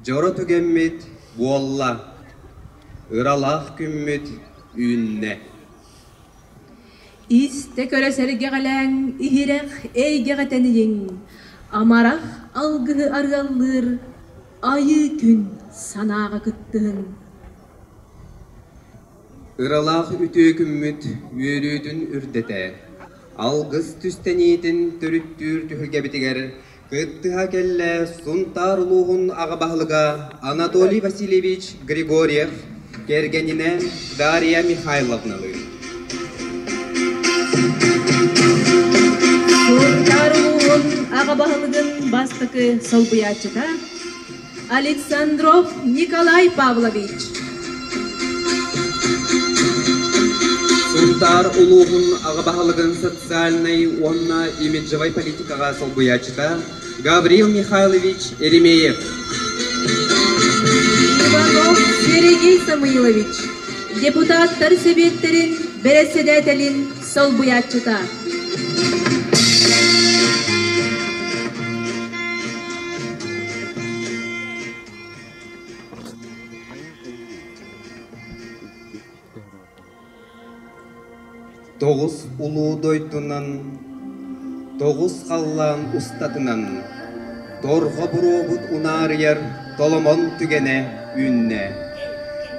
Дьоро түгэммит буолла, ыралаах күммүт үүннэ. Истэ көрө сэргэҕэлээҥ, иһирэх эйгэҕэ тэнийиҥ, амарах алгыһы арыаллыыр айыы күн санааҕа кыттыһыҥ. Ыралаах үтүө күммүт үөрүүтүн үрдэтэр, алгыс түстэниитин төрүттүүр түһүлгэбитигэр кыттыһа кэллэ Сунтаар улууһун аҕа баһылыга Анатолий Васильевич Григорьев кэргэнинэ Дарья Михайловналыын. Сунтаар улууһун аҕа баһылыгын бастакы солбуйааччыта Александров Николай Павлович Сунтаар улууһун аҕа баһылыгын социальнай уонна имиджевай политикаҕа солбуйааччыта Гаврил Михайлович Еремеев. Иванов Сергей Самойлович депутаттар Сэбиэттэрин бэрэссэдээтэлин солбуйааччыта тоҕус улуу дойдунан тоҕус халлаан устатынан Торҕо буруобут унаарыйар толомон түгэнэ үүннэ.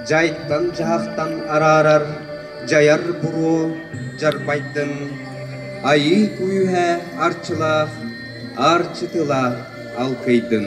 Дьайтан-дьаһахтан араарар дьайар буруо дьарбайдын, айыы күүһэ арчылаах аарчы тыла алкыйдын.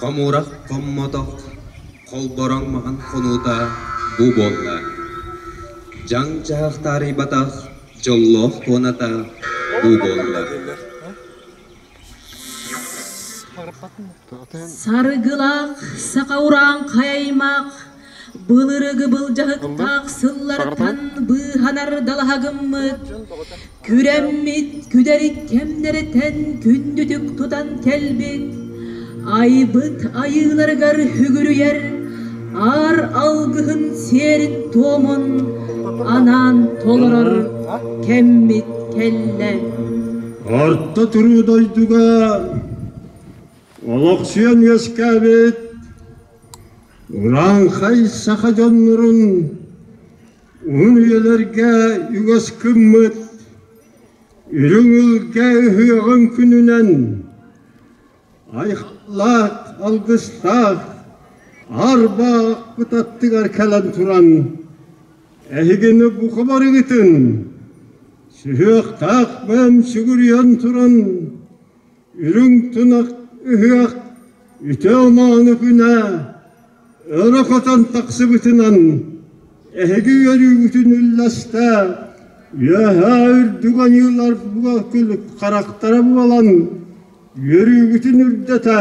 Хомуурах хоммотох, холбороҥ маһын хонуута бу буолла. Дьаҥ чаһах таарыйбатах, Дьоллоох туоната бу буолла. Сарыгылах, саха-урааҥхай аймах, былыргы былдьаһыктаах сыллартан быыһанар далаһа гыммыт, күрэммит күдэри кэмнэриттэн күндүтүк тутан кэлбит, Айбыт айыыларыгар үгүрүйэр аар алгыһын сиэрин-туомун анаан толорор кэммит кэллэ. Орто түрүү дойдуга олохсуйан үөскээбит урааҥхай саха дьоннорун уһун үйэлэргэ үгэс гыммыт Үрүҥ Илгэ үһүөҕүн күнүнэн Айхалаах алгыстаах аарба кут аттыгар кэлэн туран эһигини бука барыгытын сүһүөхтээх бэм сүгүрүйэн туран үрүҥ тунах ыһыах үтүө-мааны күнэ Ыра хотон тахсыбытынан эһиги үөрүүгүтүн үллэстэ, үөһээ үрдүк ойууларга күлүк харахтара буолан үөрүүгүтүн үрдэтэ,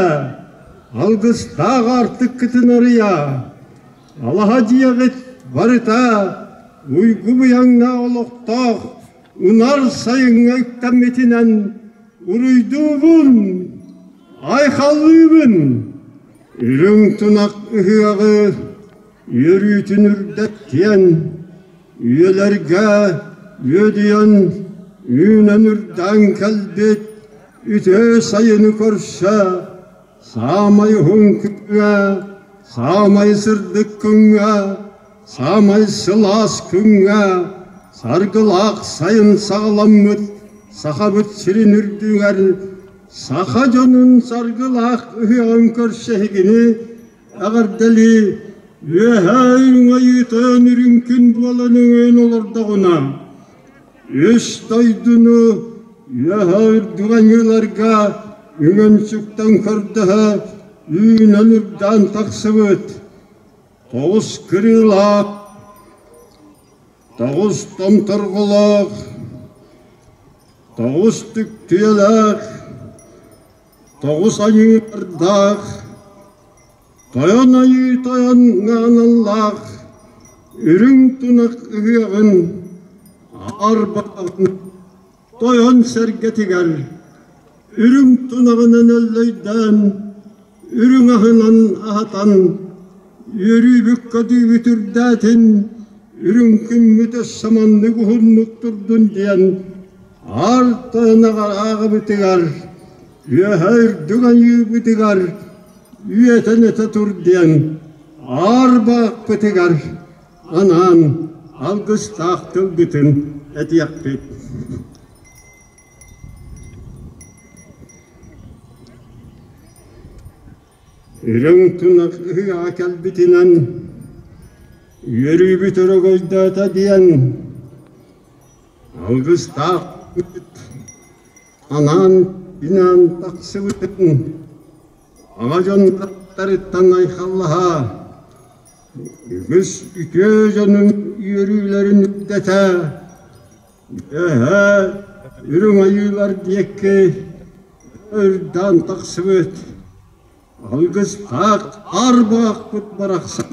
алгыстаах аартыккытын арыйа, алаһа дьиэҕит барыта уйгу-быйаҥна олохтоох унар сайыҥҥа үктэммитинэн уруйдуубун, айхаллыыбын! Үрүҥ тунах ыһыаҕы үөрүүтүн үрдэттиэн, үйэлэргэ үөдүйэн үүнэн үрдээн кэлбит үтүө сайыны көрсө, саамай уһун күҥҥэ, саамай сырдык күҥҥэ Саамай сылаас күҥҥэ саргылаах сайын саҕаламмыт Сахабыт сирин үрдүгэр саха дьонун саргылаах ыһыаҕын көрсө иһигини эҕэрдэлии үөһээ өҥөйүүтөөн үрүҥ күн буолан өҥөйөн олордоҕуна үс дойдуну үөһээ үрдүк аньыыларга үҥэн сүктэн көрдөһө үүнэн үрдээн тахсыбыт Тоҕус кырыылаах, тоҕус томторҕолоох, тоҕус түктүөлээх, тоҕус айыылардаах, тойон айыы тойон ааналлаах үрүҥ тунах ыһыаҕын аарбатаҕын Тойон сэргэтигэр үрүҥ тунаҕынан өллөйдөөн, үрүҥ аһынан аһатан, үөрүүбүк-көдүүбүт үрдээтин, үрүҥ күммүт өссө маннык уһуннук турдун диэн арта ынаҕар ааҕыбытыгар, үөһэ үрдүк аньыыбытыгар үөтэн өтө тур диэн аар баахпытыгар анаан алгыстаах тылгытын этиэхпит Үрүҥ тунах ыһыаҕа кэлбитинэн үөрүүбүт өрөгөйдөөтө диэн алгыстаах анаан инаан тахсыбытын Оно дьонноруттарыттан айхаллаһа, үгүс үтүө дьонун үөрүүлэрин үрдэтэ, үөһэ үрүҥ айыылар диэки ырдаан тахсыбыт алгыс аах аар буһахпыт барахсан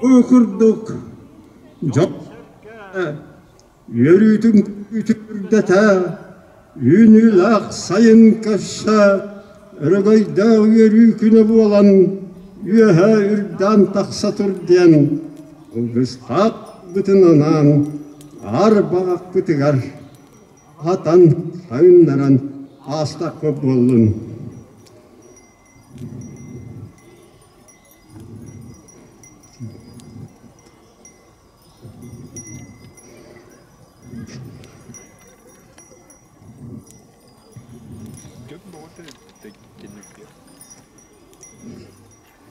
бу курдук дьон Үөрүүтүн күтүрдэтэ, үүнүүлээх сайын көрсө, өрөгөйдөөх үөрүү күнэ буолан, үөһэ үрдээн тахса тур диэн кылгыстаахпытын анаан аар баҕахпытыгар аһатан сайыннаран аастахпыт буоллун.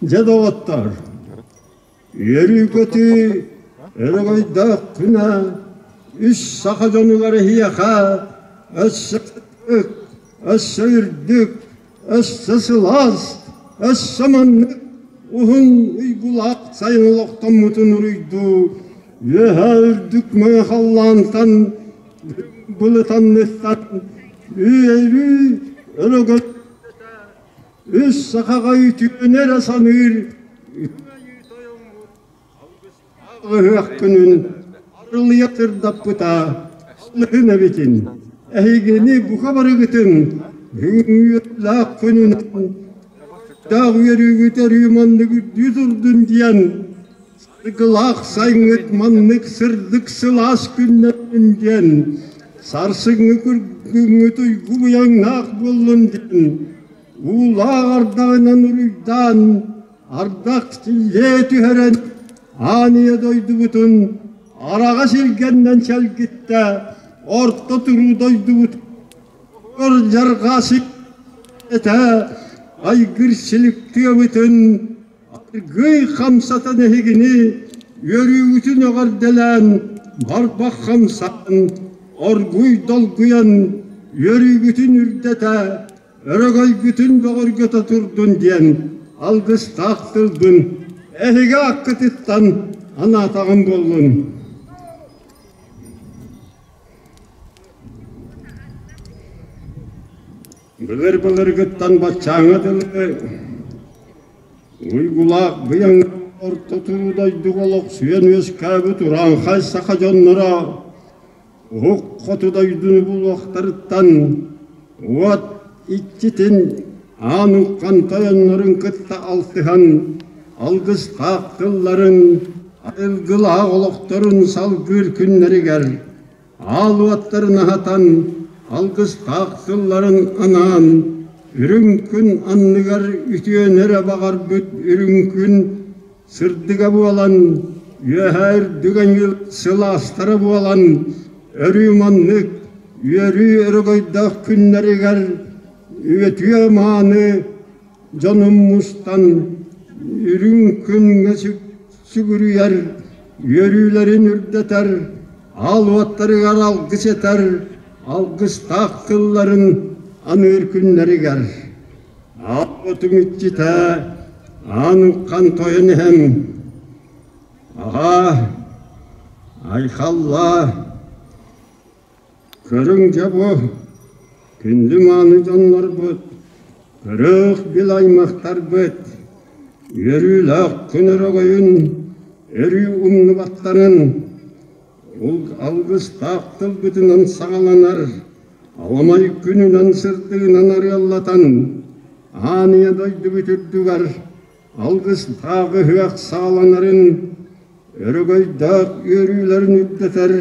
Дьэ, доҕоттор, үөрүү-көтүү өрөгөйдөөх күнэ үс саха дьонугар эһиэхэ өссө өттүк, өссө үрдүк, Өссө сылаас, өссө маннык уһун уйгулаах сайын олохтоммутун уруйдуу, үөһэ үрдүк мыа халлаантан былытанныттан үөрүү өрөгөн үс сахаҕа үтүөнү эрэ саныыр Ыһыах күнүн арылыйа сырдаппыта алыһын эбитин, эһигини бука барыгытын үҥүөлээх күнүнэн даах үөрүүгү төрүү маннык үрдүү турдун диэн саргылаах сайҥҥыт маннык сырдык сылаас күннэрин диэн сарсыҥҥы күргүҥҥүт уйгу быйаҥнаах буоллун диэн уулаах ардаҕынан уруйдаан Ардах сиһэ түһэрэн ааныйа дойдубутун араҕас илгэннэн сэлгиттэ орто туруу дойдубут кырдьарҕасын этэ айгыр силик тыабытын аргыый хамсатан эһигини үөрүүбүтүн эҕэрдэлээн барбах хамсаан оргуй долгуйан үөрүүбүтүн үрдэтэ өрөгөйгүтүн бөҕөргөтө турдун диэн алгыстаах тылбын эһиги аккытыттан анаатаҕым буоллун былыр былыргыттан баччааҥҥа дылы уйгулаах быйаҥ орто туруу дойдуга олохсуйан үөскээбит урааҥхай саха дьонноро Уһук хоту дойдуну булуохтарыттан уот иччитин аан уххан тойоннорун кытта алтыһан алгыстаах тылларын, айылгылаах олохторун салгыыр күннэригэр аал уоттарын аһатан алгыстаах тылларын анаан үрүҥ күн анныгар үтүөнү эрэ баҕарбыт үрүҥ күн Сырдыга буолан, үөһээ үрдүгэ ньыыл сылаастара буолан, өрүү маннык үөрүү өрөгөйдөөх күннэригэр үтүө-мааны дьонум мустан үрүҥ күҥҥэ сүгүрүйэр, үөрүүлэрин үрдэтэр, аал уоттарыгар алгыс этэр, алгыстаах тылларын аныыр күннэригэр. Ааппытым иччитэ аан уххан тойон иһэн аҕаа айхаллаа көрүҥ дьэ бу күннүм ааны дьоннорбут көрөөх бил аймахтарбыт үөрүүлээх күн өрөгөйүн өрүү умнубаттарын алгыстаах тылбытынан саҕаланар Хомой күнүнэн сырдыынан арыаллатан, ааныйа дойдубут үрдүгэр алгыстаах ыһыах сааланарын, өрөгөйдөөх үөрүүлэрин үрдэтэр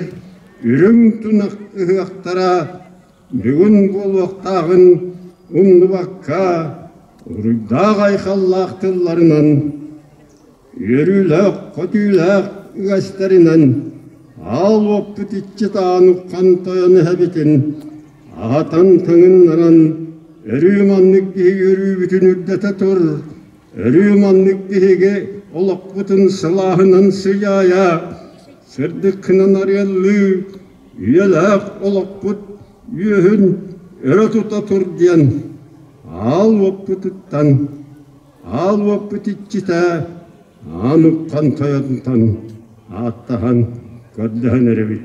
үрүҥ тунах ыһыахтара бүгүн буолуохтааҕын умнубакка, уруйдаах айхаллаах тылларынан Үөрүүлээх-көтүүлээх үгэстэринэн аал уоппут иччитаан уххан тойон эһэбитин аҕатын тыҥыннаран өрүү маннык киһи үөрүүбүтүн үрдэтэ тур, өрүү маннык биһиги олохпутун сылааһынан сыдьаайа, сырдык гынан арыаллыы, үйэлээх олохпут үөһүн өрө тута тур диэн аал уоппутуттан Аал уоппут иччитэ Аамыкхан тойотунан ааттаһан көрдөһөн эрэбит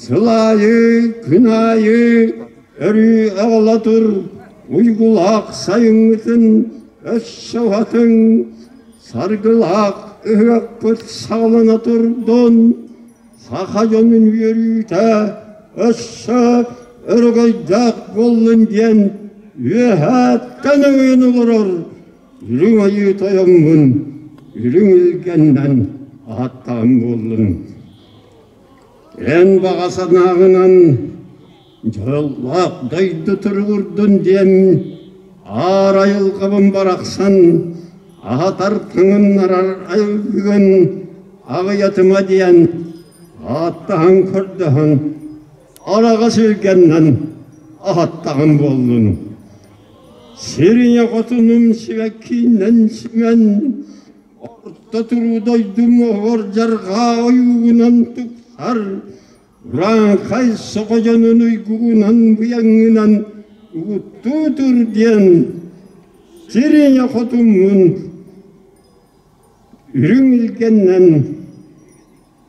Сыл аайы, күн аайы өрүү аҕала тур уйгулаах сайыҥҥытын өссө уһатыҥ, саргылаах ыһыахпыт саҕалана турдун, саха дьонун үөрүүтэ өссө өрөгөйдөөх буоллун диэн үөһээттэн өҥөйөн олорор Үрүҥ Айыы Тойоҥҥун үрүҥ илгэннэн аһаттаҕын буоллун. Эн баҕа санааҕынан дьыллаах дойду туругурдун диэн аар айылҕабын барахсан аһатар тыҥыннарар айылгыгын аҕыйатыма диэн ааттаһан көрдөһөн араҕа сүргэннэн аһаттаҕым буоллун сириñэ хотунум сибэккииннэн симэн Орто туруу дойдуҥ оһор дьарҕаа ойуугунан тупсар, урааҥхай соҕо дьонун уйгугунан быйаҥынан угуттуу тур диэн сириня хотуммун үрүҥ илгэннэн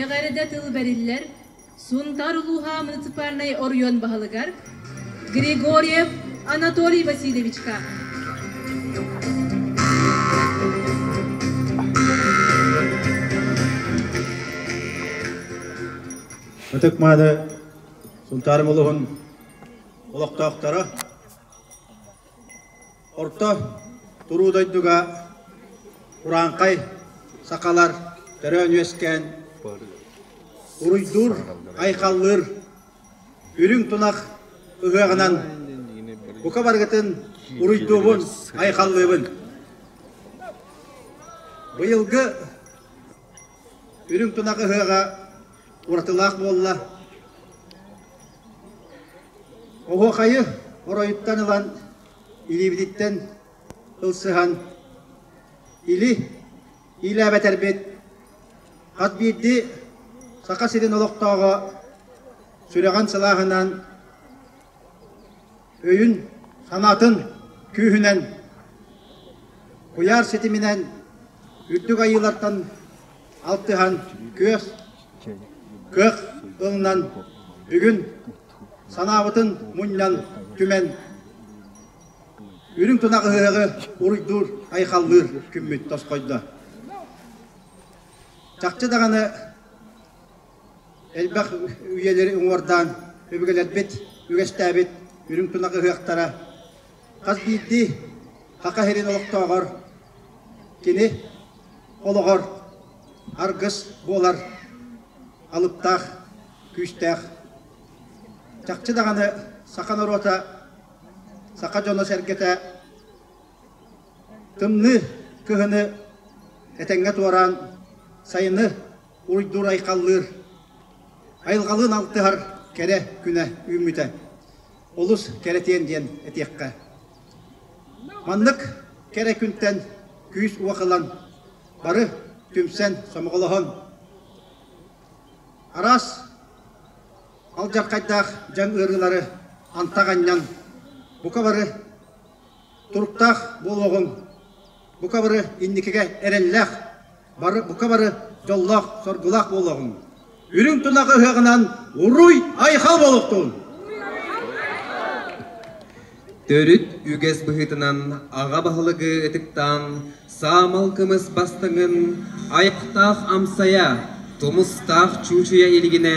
Эҕэрдэ тыл бэриллэр Сунтаар улууһа муниципальнай оройуон баһылыгар Григорьев Анатолий Васильевичка, ытык-мааны Сунтаар улуһун олохтоохторо, орто туруу дойдуга курааҥхай сахалар төрөөн үөскээн уруйдуур, айхаллыыр үрүҥ тунах ыһыаҕынан бука барыгытын уруйдуубун, айхаллыыбын. Быйылгы үрүҥ тунах ыһыаҕа уратылаах буолла. Оһуохайы оройуттан ылан илиибититтэн ылсыһан или иилээбэтэрбит хас биирдии Саха сирин олохтооҕо сүрэҕин сылааһынан, өйүн-санаатын күүһүнэн, куйаар ситиминэн үрдүк айыылартан алтыһан күөх, кыах ылынан бүгүн Санаабытын мунньан түмэн, үрүҥ тунах ыһыаҕы уруйдуур, айхаллыыр күммүт тосхойдо. Чахчы даҕаны элбэх үйэлэри уҥуордаан өбүгэлэрбит үгэстээбит үрүҥ тунах ыһыахтара хас биирдии Саха сирин олохтооҕор кини олоҕор аргыс буолар алыптаах күүстээх. Чахчы даҕаны саха норуота, саха дьоно-сэргэтэ тымныы кыһыны этэҥҥэ туораан, сайыны уйдуур-айхаллыыр, айылҕалыын алтыһар кэрэ күнэ үүммүтэ олус кэрэтиэн диэн этиэххэ. Маннык кэрэ күнтэн күүс-уох ылан, бары түмсэн, сомоҕолоһон, Араас алдьархайдаах дьаҥ ыарыылары антах анньан, бука бары туруктаах буолуоҕуҥ. Бука бары инникигэ эрэллээх, бары бука бары дьоллоох-соргулаах буолуоҕуҥ. Үрүҥ тунах ыһыаҕынан уруй-айхал буолуохтун! Төрүт үгэс быһыытынан аҕа баһылыгы ытыктаан саамал кымыс бастыҥын айахтаах амсайа, тумустаах чуучуйа илигинэ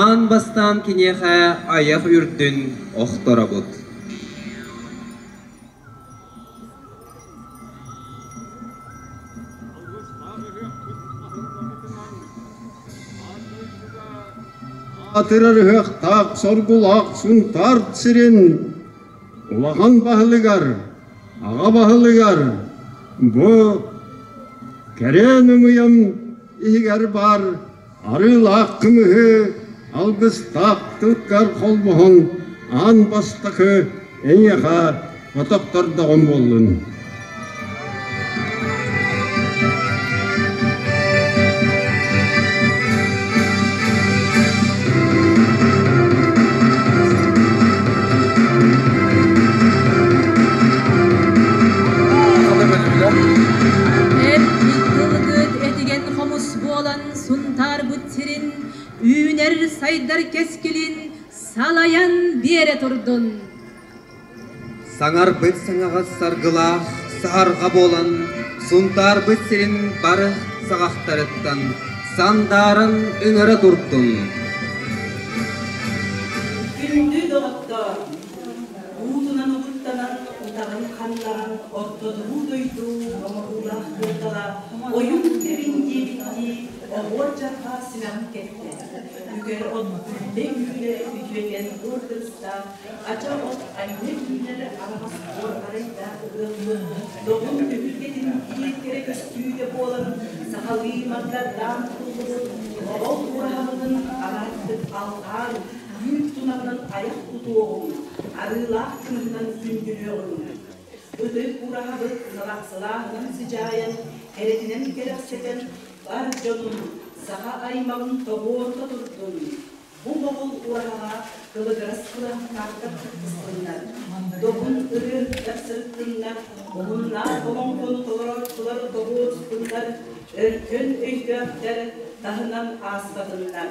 аан бастаан киниэхэ айах үрдүн охторобут Атырар ыһыахтаах соргулаах Сунтаар сирин улахан баһылыгар, аҕа баһылыгар бу кэрээн ымыйам иһигэр баар Арыылаах кымыһы, алгыстаахтыккар холбоһуҥ, аан бастакы эйиэхэ отохтордоҕум буоллун буолан Сунтаарбыт сирин үүнэр-сайдар кэскилин салайан биэрэ турдун. Саҥарбыт саҥаҕас саргылаах саарҕа буолан Сунтаарбыт сирин бары саҕахтарыттан сандааран ыҥыра турдун. Күндү доҕоттоор, уутунан утуктанар утаҕын ханнаран ордотуу дойду оҥоһуулаах кыылтала ойун тэбин диэбиттии оҕуот дьарҕа симэҕин кэттэ үгэр отгүллэ күүлэ үтүөкэн өр кырыстаах ача от айна киинэр араҕас буор арайдаах ыаммын доҕун түһүлгэтин киир кэрэ көстүүтэ буолан сахалыы мардардаан туллубут олол ураһалыгын араартык алҕаар Үүт тунабын айах тутуоҕуҥ, арыылаах кыыһынан күндүлүөҕүҥ. Ытык ураһабыт сарахсылааһынын сыдьаайан, кэрэтинэн кэрэхсэтэн, бар дьонум, саха аймаҕым тоҕуорута турдун! Бу бобул ураһаҕа кылыгырас кураһахтаахтар кыттыстыннар, добун ырыаһыттар сырыттыннар, уһуннаах олоҥхону толорооччулар тоҕуоруспуннар, өркөн өйдөөхтөр таһынан ааспатыннар!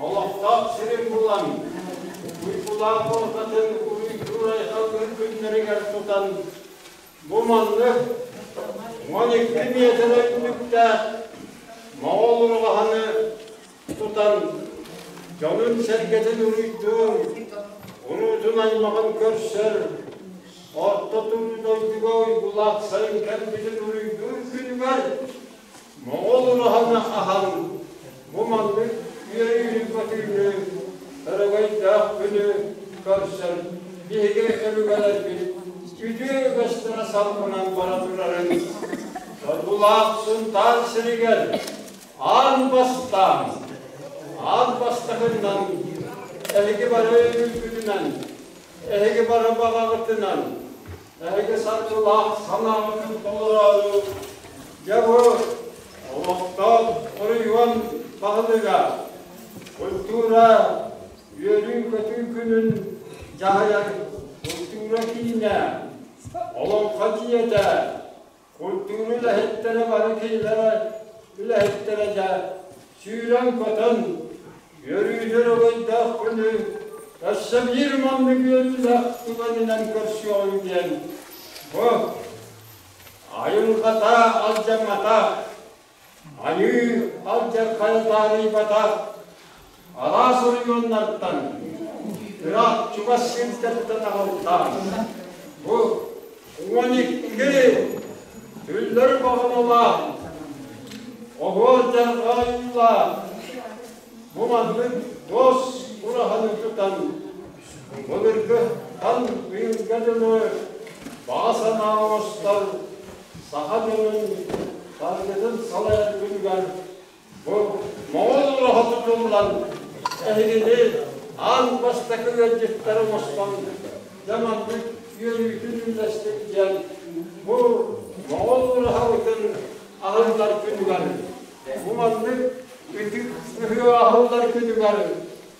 Олохтоох сирин булан, Уйгулаах уотатын уйдуур айылгын күннэригэр тутан, бу маннык уон икки миэтэрэ үрдүктээх моҕол урҕаһаны тутан, дьонун-сэргэтин уруйдуун, уруутун аймаҕын көрсөр, орто туруу дойдуга уйгулаах сайын кэлбитин уруйдуур күнүгэр Моҕол ураһаны аһан, бу маннык үөрүүнү батыыны, өрөгөйдөөх күнү көрсөн биһиги өбүгэлэрбит үтүө үгэстэрэ сампынан бара турарын Соргулаах Сунтаар сиригэр аан бастаан, аан бастакынан эһиги бары өлүүгүтүнэн, эһиги бары баҕаҕытынан Эһиги саргылаах санааҕытын толороору, дьоҕур, олохтоох оройуон баһылыга, культура, үөрүүн-көтүү күнүн дьаһайан, култуура киинэ, Олоҥхо дьиэтэ, Куттуун үлэһиттэрэ бары кинилэрэ үлэһиттэрэ дьэ сүүрэн-көтөн, үөрүүтэр угуйдаах күнү өссө биир маннык үөрүүлээх түгэнинэн көрсүөҕүҥ диэн бу айылҕата алдьамматах, Айыы алдьархайа таарыйбата алаас оройуоннартан ыраах чугас сиргэ тута таҕылтаан бу уон икки түллөрү баҕаналаах оһуор дьарҕаайыылаах бу маннык дос ураһаны тутан былыргы хан ыйылга дылы баҕа санаа оҥостор Саха дьонун барыгытын салайаргытыгар бу Моҕол олоһо тутуллан, эһигини аан бастакы ыалдьыттар оҥостон дьэ маннык үөрүүтүн үллэстик диэн бу Моҕол улаһабытын аһыллар күнүгэр, бу маннык ытык ыһыы аһыллар күнүгэр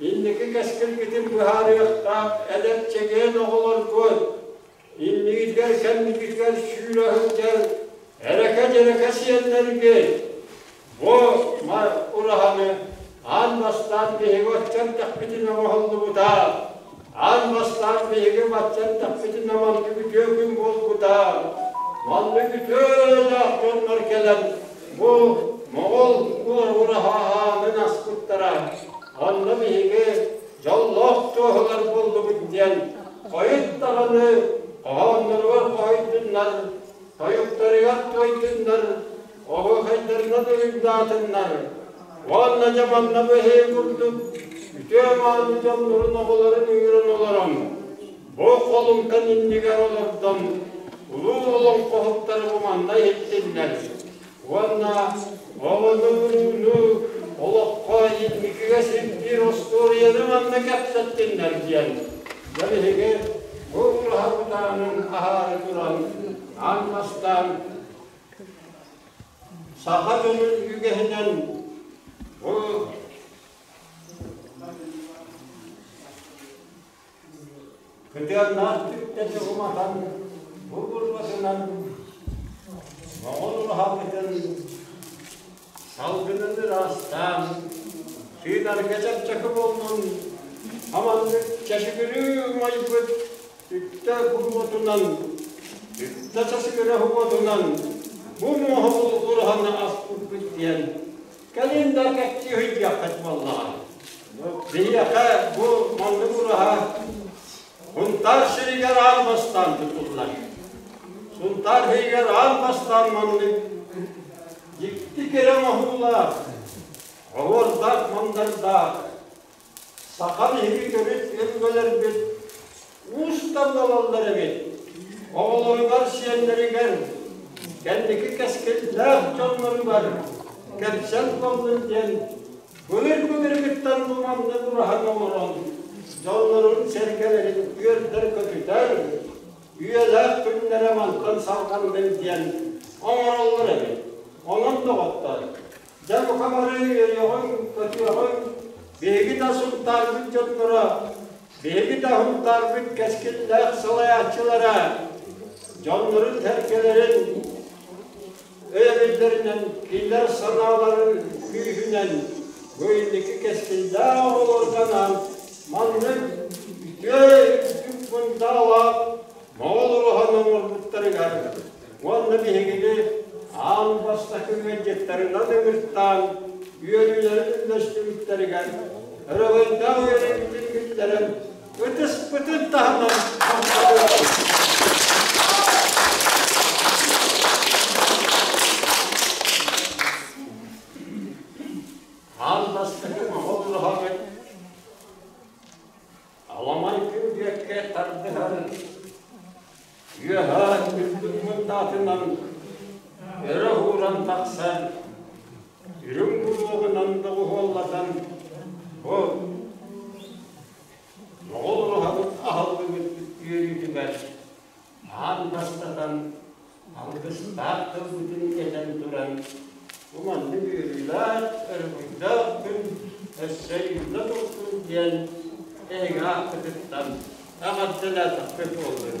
Инники кэскилгитин быһаарыахтаах эдэр чэгиэн оҕолоргун, иннигитигэр-кэннигитигэр сүүрэ сылдьар эрэкэ-дьэрэкэ сиэннэргин, бу ураһаны аан бастаан биһиги оччо эрдэхпитинэ оҥоһуллубута. Аан бастаан биһиги баччаттахпытына маннык үтүө күн буолбута. Маннык үтүө эрэллээх дьоннор кэлэн бу моҕол уоһура хааһаанын аспыттара. Онно биһиги дьоллоох туоһулар буоллубут диэн хойут даҕаны хоһоонноругар хоһуйдуннар, тойуктарыгар тойдуннар, оһохайдарынан уйугдаатыннар уонна дьабанна быһыы курдук үтүө мааны дьоннорун оҕолорун үүрэн олорон бу холумтан иннигэр олордон улуу олоҥхоһуттары уманна иһиттиннэр уонна оҕону олоххо инникигэ сирдиир остуоруйаны манна кэпсэттиннэр диэн дьон иһиги бу ураһа кутаанын аһаары туран аан бастаан Саха тылын үгэһинэн бу кытыаннаах түптэтэ уматан бу бурбасынан моҕол ураһабытын салгынын ыраастаан сыыдарга чэпчэки булнун аманнык чэшигирүү умайбыт Үтtä уотунан, үтtä тасыгыра уотунан бу муоһу булгураһаны аспыппыт диэн календарь кэпсии ыйдыаххыт буоллаҕа. Биһиэхэ бу маннык ураһа Хунтаар сиригэр аан бастаан тутуллар. Сунтаар иһигэр аан бастаан маннык дьикти кэрэ оҥоһуулаах, оһуордаах-мандардаах, Саха биһигитэбит өбүгэлэрбит уустан ылаллар эбит, оҕолоругар-сиэннэригэр, кэнники кэскиллээх дьонноругар кэпсэл тоннун диэн былыр-былыргыттан муманнык ураһан олорон дьоннорун сэргэлэрин үөрдэр-көтүтэр, үйэлээх күннэрэ мантан салҕаннын диэн оҥороллор эбит. Онон доҕоттор, Дьэ бука бары өйөҕүн, көтүөҕүн, биһиги да сунтаарбыт дьонноро, биһиги да сунтаарбыт кэскиллээх салайааччылара дьоннорун сэргэлэрин өйөбүллэринэн, кинилэр санааларын күүһүнэн бу инники кэскиллээх оҕолоргунан маннык үтүө үрдүк мундаалаах моҕол уруһан оҥорбуттарыгар уонна биһигини аан бастакы ыалдьыттарынан ыҥыртаан үөрүүлэрин үллэстибиттэригэр ырылайдаах үөрэбитин биллэрэн ытыспытын таһынан аан бастакы оҕолоһоҕун Аламай күн бүөккэ тардыһан, үөһээ үрдүк мындаатынан өрө ууран тахсан, үрүҥ буруоҕунан доҕуһуоллатан, бу моҕол ураһабыт аһыллыбыт үөрүүтүгэр Аан бастатан, алгыстаах тылбытын этэн туран, бу маннык үөрүүлээх, өрүһүйдээх күн өссө үүнэ турдун диэн эһиги аахпытыттан эҕэрдэлээтэхпит буоллун.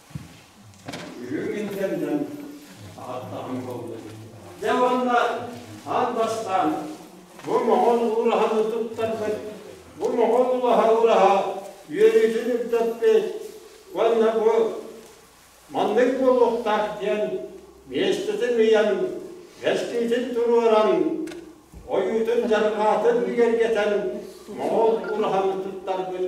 Үрүҥ илдэннэн аһаттаҕым буолла. Дьэ уонна аан бастаан бу моҕол уураһаны туттарбыт, бу моҕол уураһа-уураһа үөрүүтүн үрдэппит уонна бу маннык буолуохтаах диэн миэстэтин ыйан, бэстиитин туруоран, ойуутун дьарҕаатын бигэргэтэн моҕол уураһаны туттарбыт.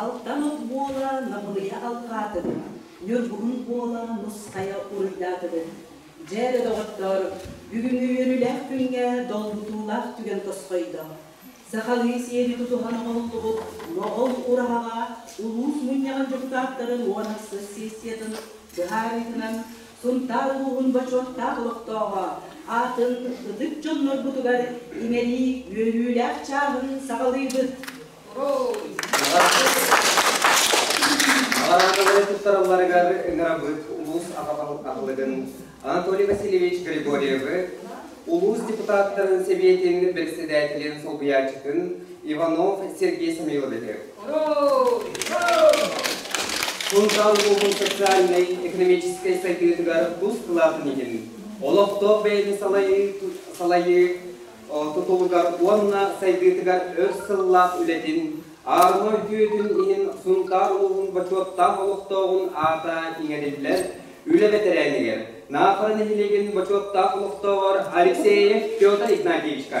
Алтан от буола Набылыйа алҕаатын, Ньургуһун буола Нускайа уруйдаатынын. Дьэ, доҕоттоор, бүгүҥҥү үөрүүлээх күҥҥэ долгутуулаах түгэн тосхойдо. Сахалыы сиэри тутуһан оҥоһуллубут Моҕол ураһаҕа улуус мунньаҕын дьокутааттарын уон ахсыс сессиятын быһаарыытынан Сунтаар улууһун бочуоттаах олохтооҕо аатын ытык дьоннорбутугар иҥэрии үөрүүлээх чааһын саҕалыыбыт. Наҕараадалары туттаралларыгар ыҥырабыт улуус аҕа балык аһылыгын Анатолий Васильевич Григорьевы, улуус депутаттарын Сэбиэтин бэрэссэдээтэлин солбуйааччытын Иванов Сергей Самойловиһы, Сунтан улууһун социальнай-экономическай сайдыытыгар тус кылаатын иһин олохтоох бэйэни салайыы тутулугар уонна сайдыытыгар өр сыллаах үлэтин аарыма үтүөтүн иһин Сунтаар улууһун бочуоттаах олохтооҕун аата иҥэриллэр Үлэ бэтэрээнигэр, Наахара нэһилиэгин бочуоттаах олохтооҕор Алексеев Петр Игнатьевичка.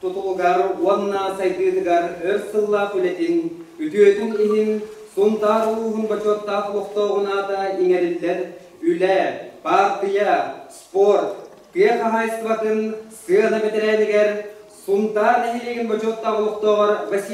тутулугар уонна сайдыытыгар өр сыллаах үлэтин, үтүөтүн иһин Сунтаар улууһун бочуоттаах олохтооҕунаата иҥэриллэр Үлэ, баартыйа, спорт, тыа хаһаайыстыбатын сыана бэтэрээнигэр Сунтаар нэһилиэгин бочуоттаах олохтооҕор Василий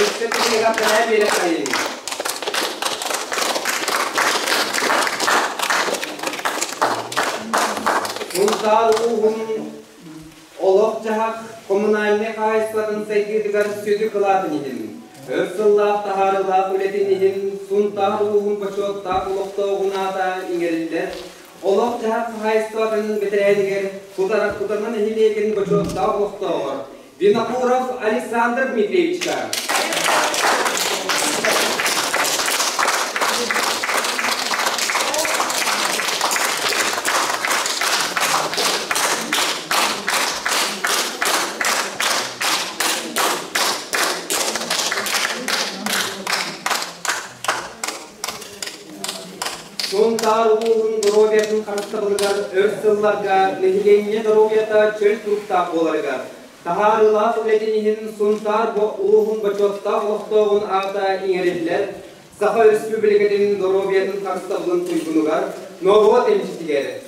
Өссө кинигэ бэлээ биэрэхтэрин. Мунтаар ууһун олох-дьаһах коммунальнай хаһайыстыбатын сайдыытыгар сүдү кылаатын иһин, өр сыллаах таһаарыылаах үлэтин иһин Сунтаар ууһун бочуоттаах олохтооҕунаата иҥэриллэр Олох-дьаһах хаһаайыстыбатынын бэтэрээнигэр Кутараҥкута нэһилиэгин бочуоттаах олохтооҕор Винокуров Александр Дмитриевичка, Сунтаар улууһун доруобуйатын харыстабылыгар өр сылларга нэһилиэнньэ доруобуйата чөл туруктаах буоларыгар, таһаарыылаах үлэтин иһин Сунтаар улууһун бочуоттаах олохтооҕун аата иҥэриллэр Саха Өрөспүүбүлүкэтин доруобуйатын харыстабылын туйгунугар, норуот эмчитигэр,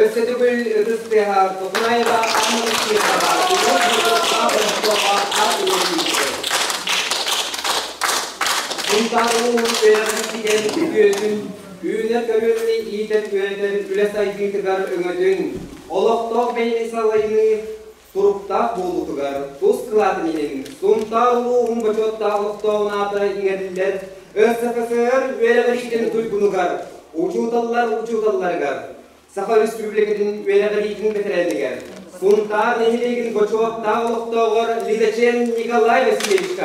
Өссө төгүл ытыс тыаһа Токмаева Ахмадов Петрова Егор Дьюкова Ростова ат уолуйдулар. Сунтаар улууһун үөрэҕин ситэн үтүөтүн, үүнэр-көрүөнү иитэр-үөрэтэр үлэ сайдыытыгар өҥөтүн, олохтоох бэйэни салайыы Туруктаах буолуутугар тус кылаатын иһин Сунтаар улууһун бочуоттаах олохтоох аата иҥэриллэр СФСР үөрэҕириитин туйгунугар, учууталлар учууталларыгар, Саха Өрөспүүбүлүкэтин үөрэҕириитин бэтэрээнигэр, Сунтаар нэһилиэгин бочуоттаах олохтооҕор Лизачен Николай Васильевичка.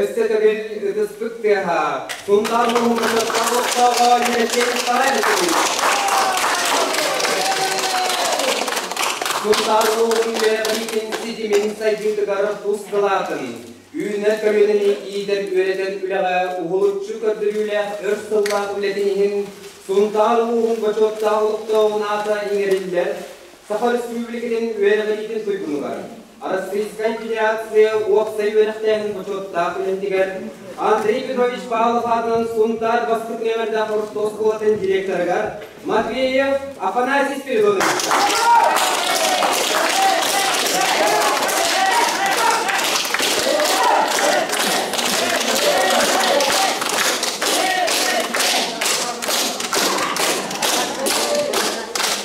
Өссө төгүл ытыспыт тыаһа Сунтаар улууһуттан олохтооҕо Ньэлэчэй Павлович. Сунтаар улууһун үөрэхтиитин ситимин сайдыытыгар тус кылаатын, үүнэр көмүлүн иитэн үөрэтэн үлэҕэ уһулуччу көрдөрүүлээх өр сыллаах үлэтин иһин Сунтаар улууһун бочуоттаах олохтооҕун аата иҥэриллэр Саха Өрөспүүбүлүкэтин үөрэҕириитин туйгунугар Раскрытская федерация уопсай үөрэхтээһин бочуоттаах үлэтигэр Андрей Петрович Павлов аатынан Сунтаар бастакы нөмэрдээх орто оскуолатын директорыгар Матвеев Афанасий Спиридонович.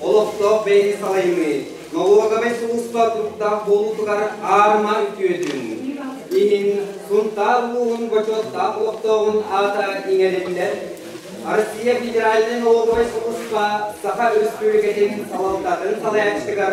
олохтоох бэйэни салайыныы, налоговай сулууспа туруктаах буолуутугар аар-маар үтүөтүн, иһин Сунтаар улууһун бочуоттаах олохтооҕун аата иҥэриллэр Россия федеральнай налоговай сулууспа Саха Өрөспүүбүлүкэтин салалтатын салайааччытыгар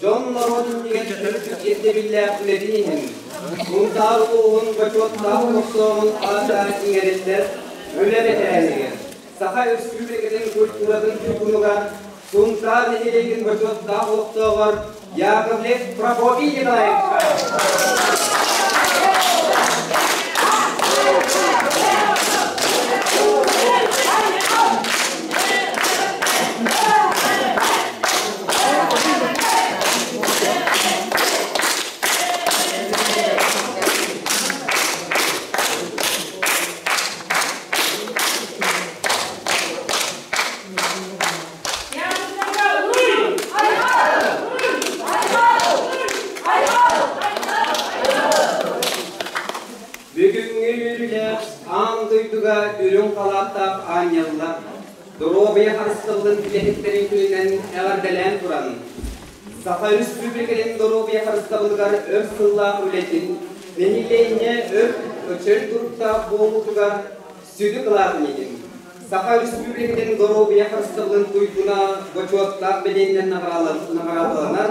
Дьон-норуот түмүгэр төрүт ирдэбиллээх үлэтин иһин Сунтаар улууһун бочуоттаах тохсооһун аата иҥэриллэр үлэ бэтэрээнигэр Саха Өрөспүүбүлүкэтин культуратын туйгунугар Сунтаар нэһилиэгин бочуоттаах олохтооҕор Яковлев Прокопий Бүгүҥҥү үөрүүлэр аан дойдуга үрүҥ халааттаах аанньаллар Доруобуйа харыстабылын үлэһиттэрин күнүнэн эҕэрдэлээн туран, Саха Өрөспүүбүлүкэтин доруобуйа харыстабылыгар өр сыллаах үлэтин, нэһилиэнньэ өр-көчөл туруктаах буолуутугар сүдү кылаатын иһин, Саха Өрөспүүбүлүкэтин доруобуйа харыстабылын туйгуна бочуоттаах бэлиэнинэн наҕараадаланар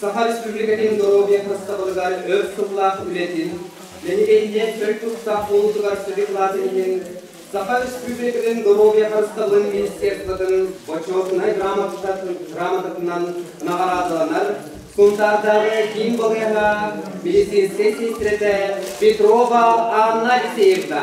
Саха Республикатын доруобуйа хастабылыгар өр сыллаах үлэтин, Нэһилиэнньэ төрүт тустаах буолуутугар сырьевлатын иһин Саха Өрөспүүбүлүкэтин доруобуйа харыстабылын министерствотын Бочуотунай грамотатынан наҕараадаланар Сунтаардааҕы киин балыыһа медицинскэй сиэнтирэтэ Петрова Анна Алексеевна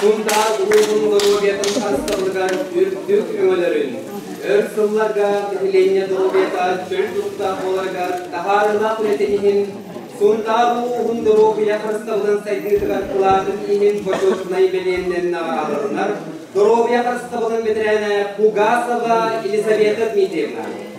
Сунтаар улууһун долуобуйатын харыстабылыгар үрдүк көмөлөрүн, өр сылларга нэһилиэнньэ долуобуйата чөл тустаах буоларыгар таһаарылаах үлэтин иһин Сунтаар улууһун долуобуйа харыстабылын сайдыытыгар кылаатын иһин бочуотунай бэлиэннэн наҕараланар доруобуйа харыстабылын бэтэрээнэ Пугасова Елизавета Дмитриевна,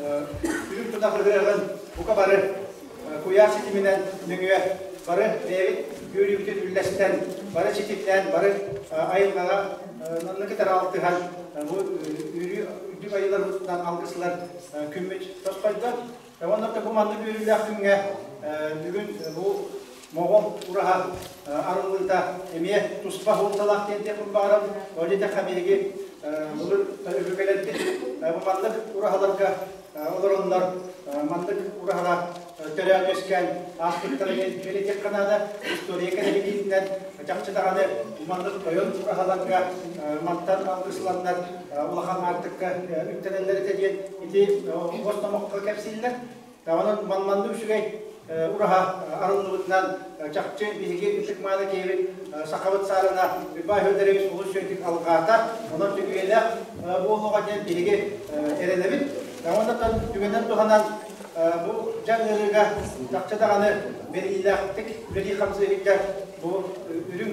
Үрүҥ тутах ыһыаҕын бука бары куйаар ситиминэн нөҥүө бары бэйэбит үөрүүбүтүн үллэстэн, бары ситимнээн, бары айылҕаҕа онно кытары алтыһан бу үөрүү үрдүк айыыларбытынан алгысылар күммүт тосхойдот. Уонна бу маннык үөрүүлээх күҥҥэ бүгүн бу Моҕол ураһа арыллыыта эмиэ туспа суолталаах диэн диэхпин баҕарабын. Ол итэхэ биһиги былыр өбүгэлэрбит бу маннык ураһаларга олороннор маннык ураһалар төрөөт үөскээн ааспыттара диэн этиэххэ наада. История кэрэһилиитинэн чахчы даҕаны бу маннык тойон ураһаларга мантан алгысланнар улахан аартыкка үктэнэллэр этэ диэн ити бос номоххо кэпсииллэр. Онон манна үчүгэй ураһа арыллыбытынан чахчы биһиги ытык маана киһибит сахабыт саарына Уйбаан Федорович олус үчүгэй алҕаата, онон сүгүйэлээх буолуоҕа диэн биһиги эрэнэбит. Онон түгэнин туһанан бу дьаҥ ыарыыга тахча даҕаны бэриллээхтик үлэлии хамсыы сылдьар бу үрүҥ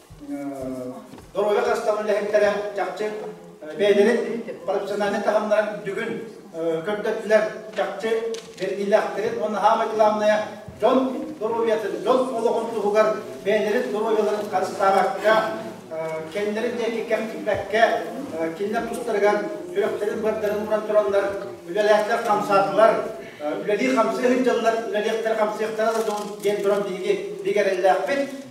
доруойа хастаҕын үлэһиттэрэ чахчы бэйэлэрин профессиональнай таһымнарын бүгүн көрдөрдүлэр чахчы бэргийлээхтэрин уонна хаамай главная дьон доруобуйатын дьон олоҕун туһугар бэйэлэрин доруобуйаларын харыстаабакка кэннилэрин диэки кэм тикпэккэ кинилэр тустарыгар сүрэхтэрин бардарын муран тураллар үлэлээхтэр хамсаатылар үлэлии хамсыы сылдьаллар үлэлиэхтэрэ хамсыахтара да дьон диэн туран биһиги биг эрэллээхпит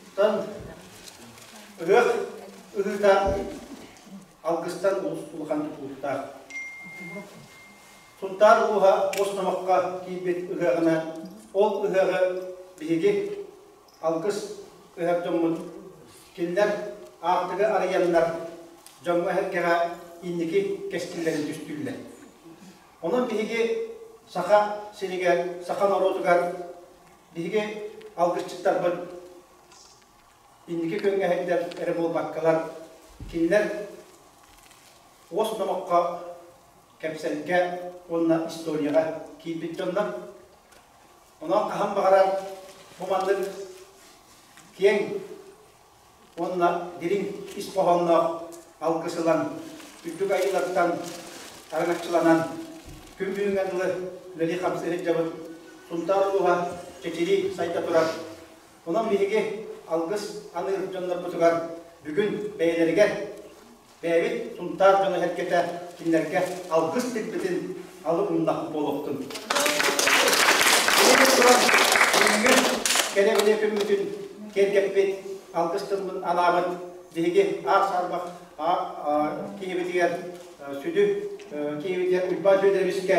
Оттон ырыах ырыытаах алгыстар олус улахан тутулуктаах. Сунтаар улууһа бос номохко киирбит ырыаҕына ол ырыаҕа биһиги алгыс ыһар дьоммут кинилэр аартыгы арыйаннар дьоҥҥо эһэргэҕэ инники кэскиллэрин түстүллэр. Онон биһиги Саха сиригэр, саха норуотугар Биһиги алгысчыттарбыт инники күҥҥэһиттэр эрэ буолбаккалар, кинилэр уос номоххо, кэпсэлгэ уонна историяҕа киирбит дьоннор. Онон хаһан баҕарар бу маннык киэҥ уонна дириҥ ис хоһоонноох алгыс ылан, үрдүк айыылартан араҥаччыланан, күн бүгүҥҥэ дылы үлэлии хамсыы сылдьабыт Сунтаар улууһа чэчирии сайда турар. Онон биһиги алгыс аныыр дьоннорбутугар бүгүн бэйэлэригэр бэйэбит тунтаар дьоно-сэргэтэ кинилэргэ алгыс тирбитин алы умнахпыт буолуохтун. Ити туран, бүгүҥҥү кэрэбилэ күммүтүн киэргэппит, алгыс тылбын анаабыт биһиги аар сарбах киһибитигэр сүдү киһибитигэр Уйбаан Сүөдэбискэ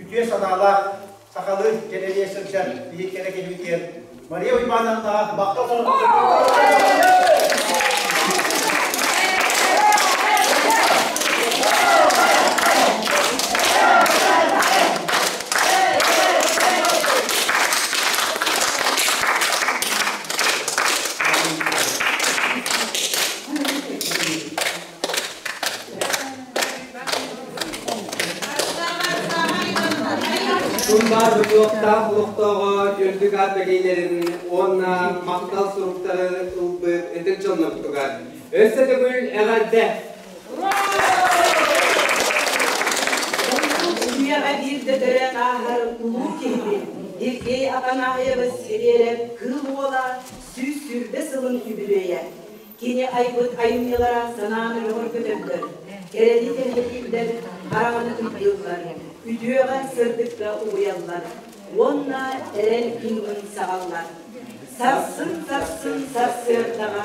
үтүө санаалаах сахалыы кэтэриэ сылдьар биһик кэрэ киһибитигэр Мария Уйбаановнаҕа махтал Тумбар регионтаах олохтооҕо үрдүк аат бэлиилэрин уонна махтал суруктары ылбыт ытык дьоннорбутугар өссө төгүл эҕэрдэ! Усулуйаҕа биирдэ төрө ааһар улуу киһибит Сергей Афанасьев Васильев Кыыл Уола сүүс сүүрбэ сылын үбүлүөйэ Кини айбыт айымньылара санааны бөҕөргөтөллөр, кэрэни кэҥэтиллэр, хараҕаны тыйдыллар, үтүөҕэ-сырдыкка угуйаллар уонна эрэл быһыытын саҕаллар. Сарсын-сарсын сарсыардаҕа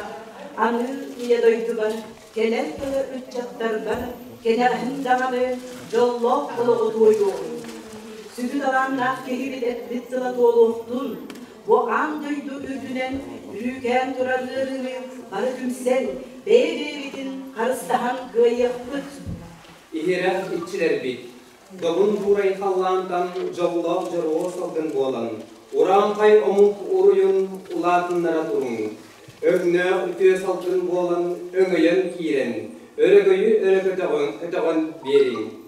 аныы Ийэ дойдубар кэлэр тыла ыччаттарбар кэнэҕэһин даҕаны дьоллоох олоҕу туойуоҕуҥ. Сүдү талааннаах киһи бүтэспит сыла туолуохтун, Бу аан дойду үрдүнэн үүрээн турар ыарыыны бары түмсэн, бэйэ-бэйэбитин харыстаһан кыайыахпыт. Иһирэх иччилэрбит, добун туурай халлаантан дьоллоох дьоруо салгын буолан, ураанхай омук уруйун улаатыннара туруҥ! Өгнөөх үтүө салгын буолан өҥөйөн киирэн, өрөгөйү өрө көтөҕөн биэриҥ!